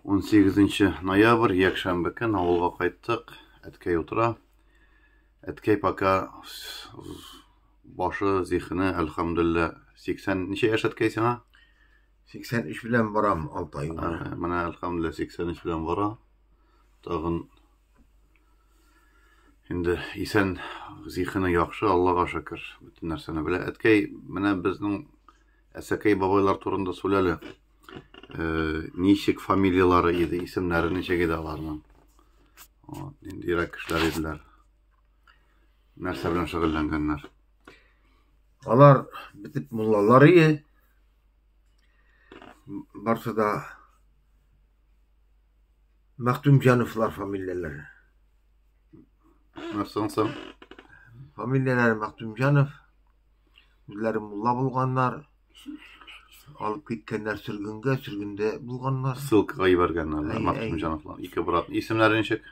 18 ноябрь, якшәмбе көн авылга кайттык. Әткәй утыра. Әткәй пока башы, зихене, әлхәмдулилла, 80 ничә яшь әткәй сиңа? 83 белән барам, 6 ай. Менә әлхәмдулилла 83 белән бара. Тагын инде исән зихене яхшы, Аллага шөкер, бөтен нәрсәне белә. Әткәй, менә безнең Әсәкәй бабайлар турында сүләле. Э, ничек фамилиялары иде, исемнәре ничек иде аларның. Вот, ниндирәк кешеләр иделәр. Нәрсә белән шөгыльләнгәннәр? Алар битеп муллалар иде. Барсы да Мәктүмҗановлар фамилияләре. Нәрсәң соң? Фамилияләре Мәктүмҗанов. Үзләре мулла булганнар. Алып киткәннәр сөргенгә, сөргендә булганнар. Ссылкага ебәргәннәр. Әй, Максим әй. Җановлар. Ике брат. Исемнәре ничек?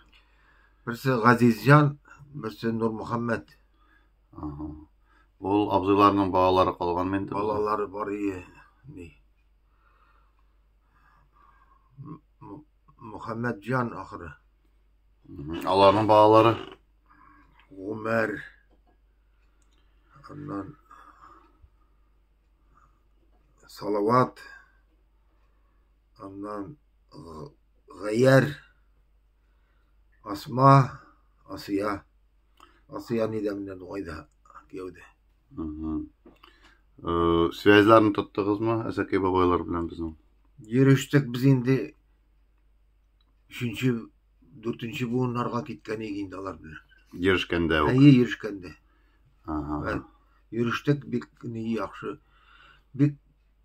Берсе Газизҗан, берсе Нурмөхәммәт. Ага. Ул абзыйларның балалары калган инде. Балалары бар ие. Ни. М- М- Мөхәммәтҗан ахыры. Мгм. Аларның балалары. Гомәр, аннан салават аннан гаяр асма асия асия нидә менә дугайда кияүдә связьларны тоттыгызмы әсәкәй бабайлар белән безнең йөрештек без инде Өченче, дүртенче буыннарга киткән иде инде алар белән. Йөрешкәндә үк. Әйе, йөрешкәндә. Ага. Йөрештек бик ни яхшы. Бик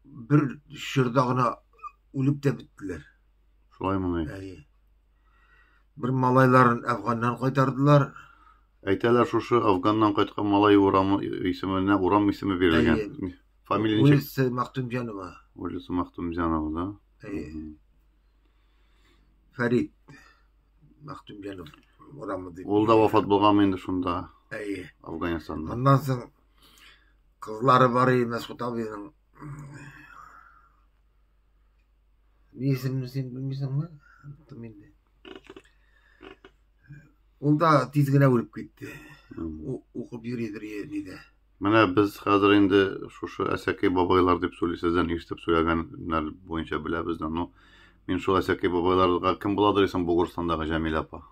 бер чорда гына үлеп тә беттеләр. Шулаймыни? Әйе. Бер малайларын Әфганнан кайтардылар. Әйтәләр шушы Афганнан кайткан малай урамы исеменә урам исеме бирелгән. Фамилия ничек? Улица Мактумҗанова. Улица Мактумҗанова, да? Фәрит Мәхтүмҗанов урамы дип. Ул да вафат булганмы инде шунда? Әйе. Афганстанда. Аннан соң кызлары бар иде Мәсхут абыйның. Ни исемне син белмисеңме? Оныттым инде. Ул да тиз генә үлеп китте. Укып йөридер нидә. Менә без хәзер инде шушы әсәкәй бабайлар дип сөйли сездән ишетеп сөйләгәннәр буенча беләбез дә. Ну, мин шул әсәкәй бабайларга кем буладыр исем Бугурстандагы Җәмил апа.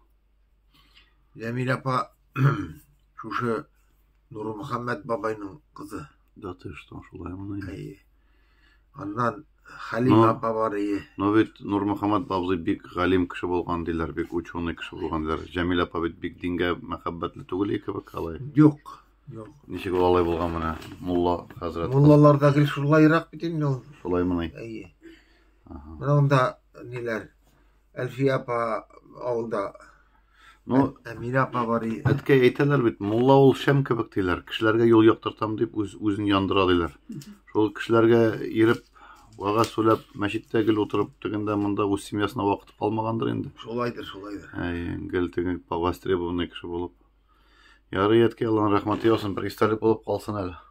Җәмил апа шушы Нурмөхәммәт бабайның кызы. Да ты что, шулай моны. Әйе. Аннан Халим апа бар ие. Но бит Нурмөхәммәт бабзый бик галим кеше булган диләр, бик ученый кеше булган диләр. Җәмил апа бит бик дингә мәхәббәтле түгел кебек алай. Юк. Юк. Ничек ул алай булган менә мулла хәзрәт? Муллаларда гел шулайрак бит инде ул. Шулаймыни? Әйе. Менә монда ниләр? Әлфия апа авылда. Ну, Әмирә апа бар иде. Әткәй әйтәләр бит, мулла ул шәм кебек диләр. Кешеләргә юл яктыртам дип үз үзен яндыра диләр. Шул кешеләргә иреп Вагаз сөйләп, мәчеттә гел утырып, тегендә монда үз семьясына вакыт калмагандыр инде. Шулайдыр, шулайдыр. Әй, гел теге востребованный кеше булып. Ярый, әткәй, Аллаһның рәхмәте яусын, бер истәлек булып калсын әле.